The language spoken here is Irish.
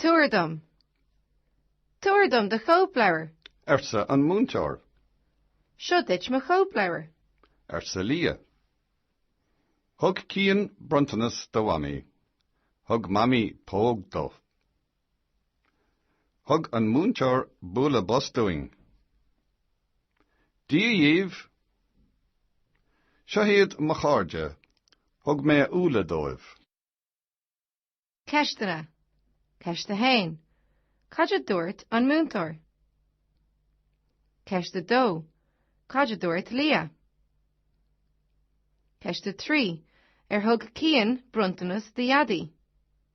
Tabhair dom. Tabhair dom do chóipleabhar. arsa an múinteoir. Seo duit mo chóipleabhar. arsa Lia. Thug Cian bronntanas do Mhamaí. Thug Mamaí póg dó. Thug an múinteoir bualadh bos dúinn. Dia dhíbh! Seo iad mo chairde, thug mé úlla dóibh. Ceisteanna. Ceist 1. Cad a dúirt an múinteoir? Ceist 2. Cad a dúirt Lia? Ceist 3. Ar thug Cian bronntanas do Dhaidí?